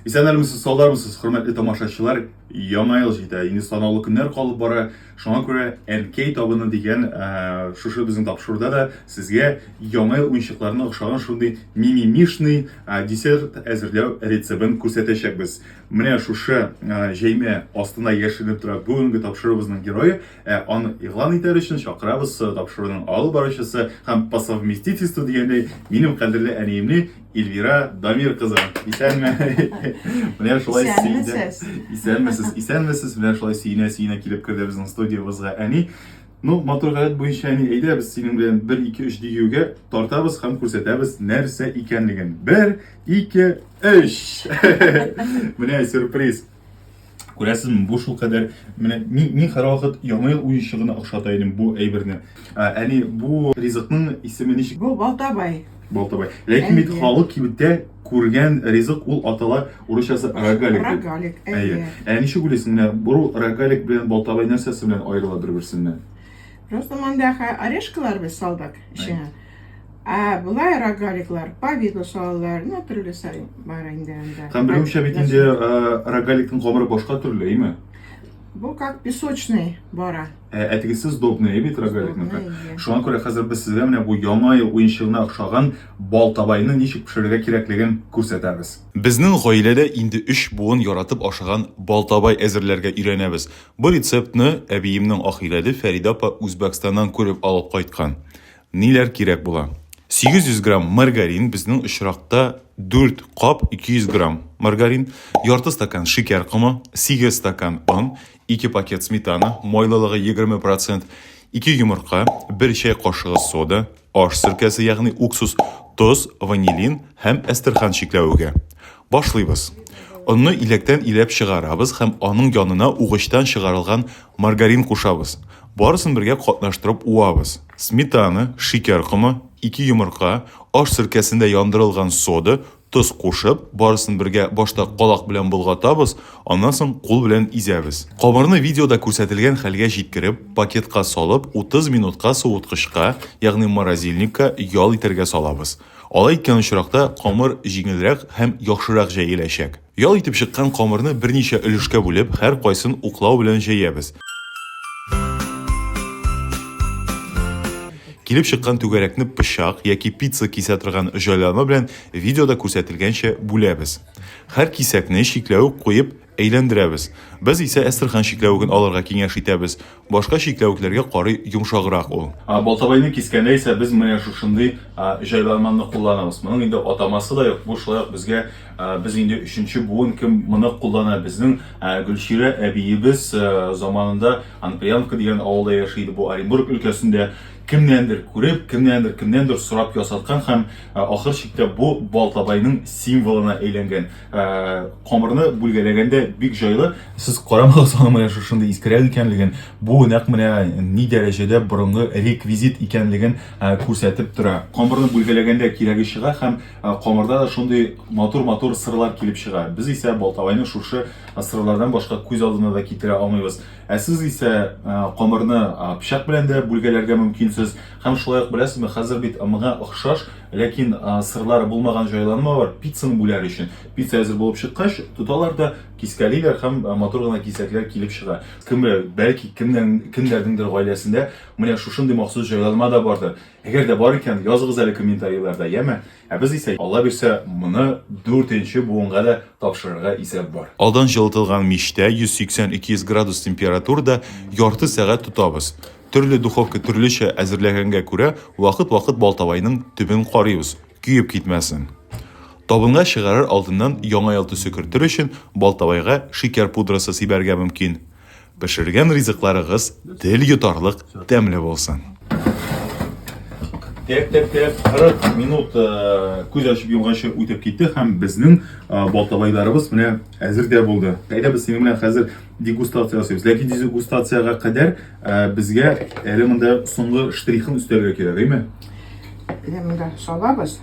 Исән әлмесез, салдармысыз, хөрмәтле тамашачылар! Яңа ел җитә, инде санаулы көннәр калып бара. Шуңа күрә Әнкәй табыны дигән ә, шушы безнең тапшыруда да сезгә яңа ел уенчыкларына охшаган шундый мимимишный ә, десерт әзерләү рецебын күрсәтәчәкбез. Менә шушы ә, җәймә астына яшеренеп тора бүгенге тапшыруыбызның герое. Ә аны игълан итәр өчен чакырабыз тапшыруның алып баручысы һәм по совместительству дигәндәй минем кадерле әниемне Эльвира Дамир кызы, исәнме? Менә шулай сөйдә. Исәнмесез, исәнмесез. Менә шулай сөйнә сөйнә килеп керде безнең студиябызга әни. Ну, матур гадәт буенча әни, әйдә без синең белән 1 2 3 дигәнгә тартабыз һәм күрсәтәбез нәрсә икәнлеген. 1 2 3. Менә сюрприз. Күрәсезме, бу шул кадәр менә мин, мин һәрвакыт Яңа ел уенчыгына охшата идем бу әйберне. Ә, Әни, бу ризыкның исеме ничек? Бу балтабай. Балтабай. Ләкин бит Әйе. халык кибеттә күргән ризык ул атала урысчасы рогалик. дип. Рогалик, Әйе. әйе. Ә ничек уйлыйсың, менә бу рогалик белән балтабай нәрсәсе белән аерыла бер-берсеннән? Просто монда хә- орешкалар без салдык эченә. Ә болай рогаликлар по виду салалар, ну төрлесе бар инде анда. Һәм белүемчә бит инде рогаликның гомере башка төрле, әйме? Бу как песочный бара. Ә, ә тегесе сдобный бит рогаликның. Шуңа күрә хәзер без сезгә менә бу яңа ел уенчыгына охшаган бал табайны ничек пешерергә кирәклеген күрсәтәбез. Безнең гаиләдә инде өч буын яратып ашаган бал табай әзерләргә өйрәнәбез. Бу рецептны әбиемнең ахирәде Фәридә апа Үзбәкстаннан күреп алып кайткан. Ниләр кирәк була? 800 грамм маргарин, безнең очракта 4 кап 200 грамм маргарин, ярты стакан шикәр комы, 8 стакан он, 2 пакет сметана, майлылыгы 20%, 2 йомырка, 1 чәй кашыгы сода, аш сиркәсе, ягъни уксус, тоз, ванилин һәм әстерхан чикләвеге. Башлыйбыз. Онны иләктән иләп чыгарабыз һәм аның янына угычтан чыгарылган маргарин кушабыз. Барысын бергә катнаштырып уабыз. Сметана, шикәр комы, ике йомырка, аш серкәсендә яндырылган сода, тоз кушып, барысын бергә башта калак белән болгатабыз, аннан соң кул белән изәбез. Камырны видеода күрсәтелгән хәлгә җиткереп, пакетка салып, 30 минутка суыткычка, ягъни морозильникка ял итәргә салабыз. Алай иткән очракта камыр җиңелрәк һәм яхшырак җәеләчәк. Ял итеп чыккан камырны берничә өлешкә бүлеп, һәркайсын уклау белән җәябез. Килеп чыккан түгәрәкне пычак яки пицца кисә торган җайланма белән видеода күрсәтелгәнчә бүләбез. Һәр кисәкне чикләвек куеп әйләндерәбез. Без исә әстерхан чикләвеген алырга киңәш итәбез. Башка чикләвекләргә карый йомшаграк ул. Балтабайны кискәндә исә без менә шушындый җайланманы кулланабыз. Моның инде атамасы да юк, бу шулай ук безгә без инде өченче буын кем моны куллана. Безнең Гөлчирә әбиебез заманында Анприянка дигән авылда яши иде, бу Оренбург өлкәсендә, кемнәндер күреп, кемнәндер, кемнәндер сорап ясаткан һәм ахыр чиктә бу Балтабайның символына әйләнгән. Э, камырны бүлгәләгәндә бик җайлы сез карамагыз аның менә шушындый искерәк икәнлеген бу нәкъ менә ни дәрәҗәдә борынгы реквизит икәнлеген э, күрсәтеп тора камырны бүлгәләгәндә кирәге чыга һәм э, камырда да шундый матур матур сырлар килеп чыга без исә балтабайны шушы сырлардан башка күз алдына да китерә алмыйбыз ә сез исә камырны пычак белән дә бүлгәләргә мөмкинсез Һәм шулай ук, беләсезме, хәзер бит моңа охшаш, ләкин сырлары булмаган җайланма бар, пиццаны бүләр өчен. Пицца әзер булып чыккач, тоталар да кискәлиләр һәм матур гына кисәкләр килеп чыга. Кем белә, бәлки, кемнәрнеңдер гаиләсендә менә шушындый махсус җайланма да бардыр. Әгәр дә бар икән, языгыз әле комментарийларда, яме? Ә без исә, Алла бирсә, моны дүртенче буынга да тапшырырга исәп бар. Алдан җылытылган мичтә, 180-200 градус температурада ярты сәгать тотабыз. Төрле духовка төрлечә әзерләгәнгә күрә, вакыт-вакыт балтабайның төбен карыйбыз, көеп китмәсен. Табынга чыгарыр алдыннан Яңа ел төсе кертер өчен балтабайга шикәр пудрасы сибәргә мөмкин. Пешергән ризыкларыгыз тел йотарлык тәмле булсын! Тәп-тәп-тәп 40 минут күз ачып йомганчы үтеп китте һәм безнең балтабайларыбыз менә әзер дә булды. Әйдә без синең белән хәзер дегустация ясыйбыз. Ләкин дегустациягә кадәр э, безгә әле монда соңгы штрихын өстәргә кирәк, әйме? Әле монда салабыз.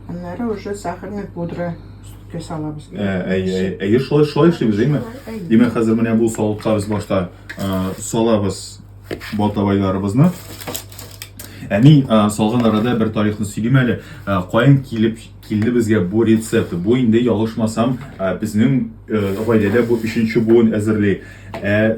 Аннары уже сахарный пудра өсткә салабыз. Э, әйе, әйе, шулай шулай эшлибез, әйме? Димәк, хәзер менә бу савытка без башта э, салабыз балтабайларыбызны. Әни салган арада бер тарихны сөйлим әле. Каян килеп Килде безгә бу рецепт. Бу инде ялгышмасам, безнең гаиләдә бу өченче буын әзерли. Ә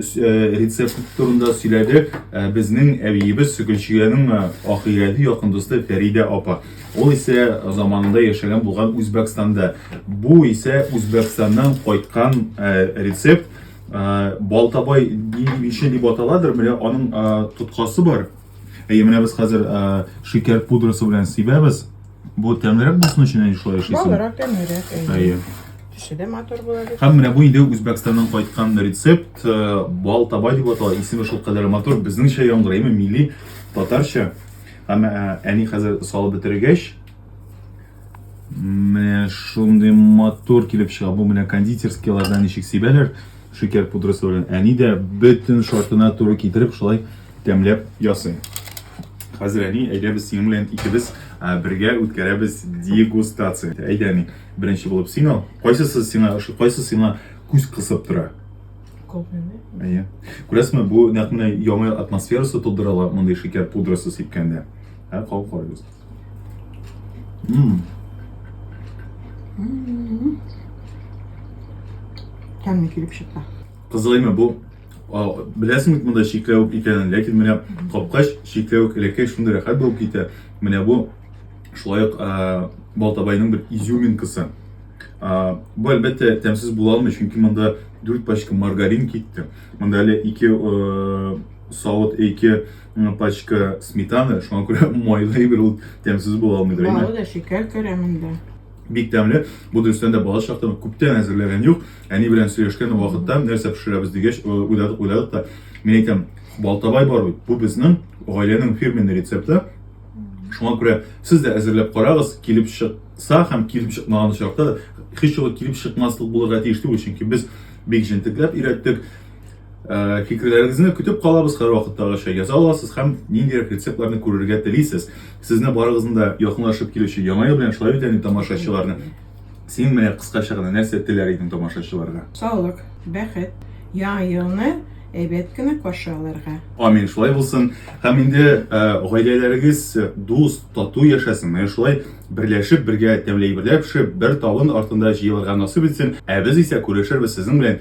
рецепт турында сөйләде безнең әбиебез Гөлчиянең ахирәти якын дусты Фәридә апа. Ул исә заманында яшәгән булган Үзбәкстанда. Бу исә Үзбәкстаннан кайткан рецепт. Балтабай бише дип аталадыр, менә аның тоткасы бар. Әйе, менә без хәзер э, шикәр пудрасы белән сибәбез. Бу тәмлерәк булсын өчен әни шулай эшлисең. Балырак, тәмлерәк. Әйе. Төсе дә матур була бит. Һәм менә бу инде Үзбәкстаннан кайткан рецепт, э, бал табай дип атала. Исеме шул кадәр матур, безнеңчә яңгырый, әмма милли татарча. Һәм э, әни хәзер салып бетергәч, менә шундый матур килеп чыга. Бу менә кондитерскийлардан ничек сибәләр шикәр пудрасы белән. Әни дә бөтен шартына туры китереп шулай тәмләп ясый. Хәзер әни, әйдә без синең белән икебез бергә үткәрәбез дегустация. Әйдә әни, беренче булып син ал. Кайсысы сиңа ошый, кайсы сиңа күз кысып тора? Копияне. Әйе. Күрәсезме, бу нәкъ менә яңа атмосферасы тудыра ала мондый шикәр пудрасы сипкәндә. Ә кау карагыз. Мм. Тәмле килеп чыкты. Кызылаймы бу Беләсең бит монда чикләвек икәнен, ләкин менә капкач чикләвек элеккәй шундый рәхәт булып китә. Менә бу шулай ук Балтабайның бер изюминкасы. Бу әлбәттә тәмсез була алмый, чөнки монда 4 пачка маргарин китте. Монда әле 2 савыт, 2 пачка сметаны, шуңа күрә майлы әйбер ул тәмсез була алмыйдыр. Балы да шикәр керә монда. Бик тәмле. Бу дөрестән дә балачак чактан күптән әзерләгән юк. Әни белән сөйләшкән вакытта нәрсә пешерәбез дигәч, э, уйладык, уйладык та. Мин әйтәм, балтабай бар бит. Бу безнең гаиләнең фирменный рецепты. Шуңа күрә сез дә әзерләп карагыз, килеп чыкса һәм килеп чыкмаган очракта да һичьюгы килеп чыкмаслык булырга тиеш түгел, чөнки без бик җентекләп өйрәттек. Э, фикерләрегезне көтеп калабыз һәр вакыттагыча яза аласыз һәм ниндирәк рецептларны күрергә телисез сезне барыгызны да якынлашып килүче яңа ел белән шулай бит әни тамашачыларны син менә кыскача гына нәрсә теләр идең тамашачыларга саулык бәхет яңа елны әйбәт кенә каршы алырга амин шулай булсын һәм инде э, гаиләләрегез дус тату яшәсен менә шулай берләшеп бергә тәмле әйберләр пешереп бер табын артында җыелырга насыйп итсен ә без исә күрешербез сезнең белән